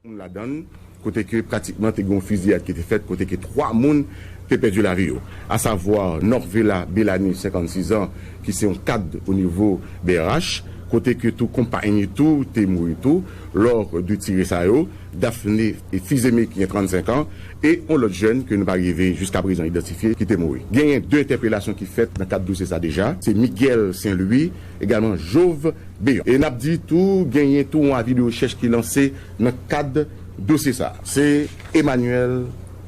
moun ladan l, kote ke pratikman te gen yon fiziyad ki te fèt kote ke 3 moun te pèdi lavi yo, asavwa Norvela Belani 56 zan ki se yon kad o nivo brh, kote ke tou konpay ni tou te mouri tou lò de tire sa yo, Daphné Fils-Aimé ki gen 35 an e yon lòt jèn ke nou pa rive jiska prezan idantifye ki te mouri. Genyen 2 entèpelasyon ki fèt nan kad dosye sa deja, se Miguel Saint-Louis. egalman Jov. Beyon. E n ap di tou genyen tou yon avi de rechèch ki lanse nan kad dosye sa. Se Emmanuel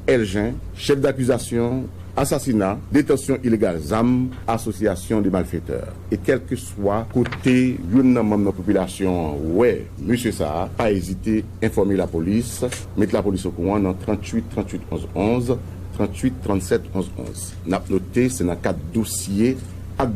Elgin, chèf dakizasyon, asasina, detansyon ilegal zam, asosyasyon de malfetè. E kèlkeswa kote youn nan manm nan popilasyon an wè mesye sa, pa ezite enfòme lapolis, met lapolis okouran nan 38 38 11 11, 38 37 11 11. N ap note se nan kad dosye ak.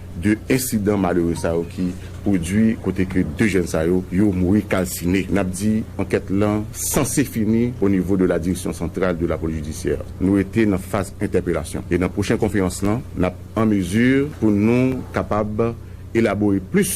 2 ensidan malere sa yo ki pwodwi kote ke 2 jèn sa yo, yo mouri kalsine. Nap di ankèt lan sanse fini o nivo de la Direction Centrale de la Police Judiciaire. Nou rete nan faz entèpelasyon. E nan pwochen konferans lan, nap an mezi pou nou kapab elabore plis.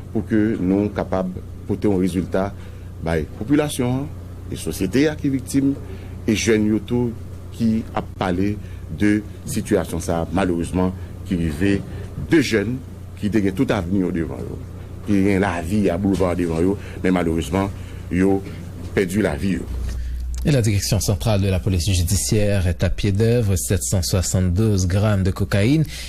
pou ke nou kapab pote yon rezilta bay popilasyon an e sosyete a ki viktim e jèn yo tou ki ap pale de sitiyasyon sa a malerezman ki rive 2 jèn ki te gen tout avni yo devan yo, ki te gen lavi a boulva devan yo men malerezman yo pèdi lavi yo. E la Direction Centrale de la Police Judiciaire est à pied d'œuvre, 772 grammes de cocaïne.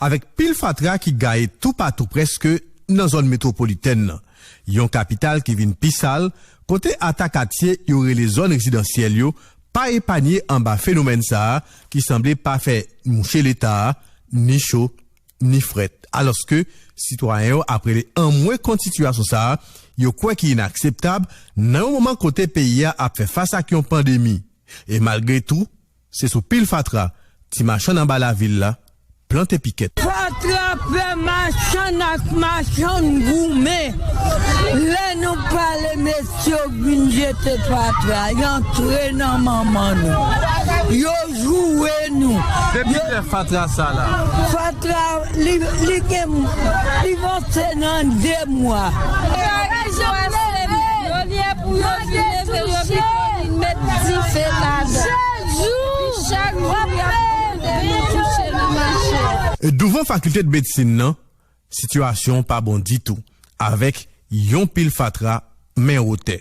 Avèk pil fatra ki gaye toupatou prèske nan zòn metwopolitèn lan, yon kapital ki vin pi sal, kote ata katye yo rele zòn rezidansyèl yo pa epanye anba fenomèn sa a ki sanble pa fè mouche Leta a ni cho ni frèt. Alòske sitwayen yo ap rele anmwe kont sitiyasyon sa a yo kwè ki inakseptab nan yon moman kote peyi a ap fè fas ak yon pandemi e malgre tou Se sou pil fatra ti machann anba lavil la plante pikèt. Fatra fè machann ak machann goumen. Lè nou pale mesye yo vin jete fatra y antre nan manman nou. Yo joure nou. Depi lè fatra sa la? Fatra li gen li vanse nan 2 mwa. Douvan fakilte de medsin nan, sitiyasyon pa bon ditou, avèk yon pil fatra men wotè.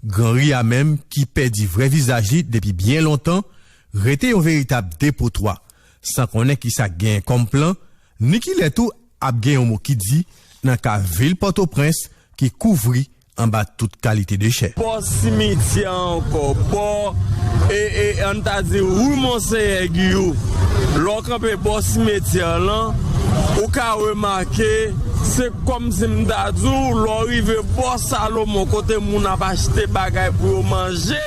Gran Ri a menm ki pèdi vrè vizaj li depi byen lontan, rete yon veritab depotwa, san konnen kisa k genyen kòm plan Nikilè tou ap gen yon mo ki di nan ka vil Pòtoprens ki kouvri anba tout kalite dechè. Bò simityè a ankò, bò e e an n ta di rue Monseyè Giyou, lè w kanpe bò simetyè a lan, ou ka remake se kòmsi m ta di w lè w rive bò Salomon kote moun ap achte bagay pou yo manje.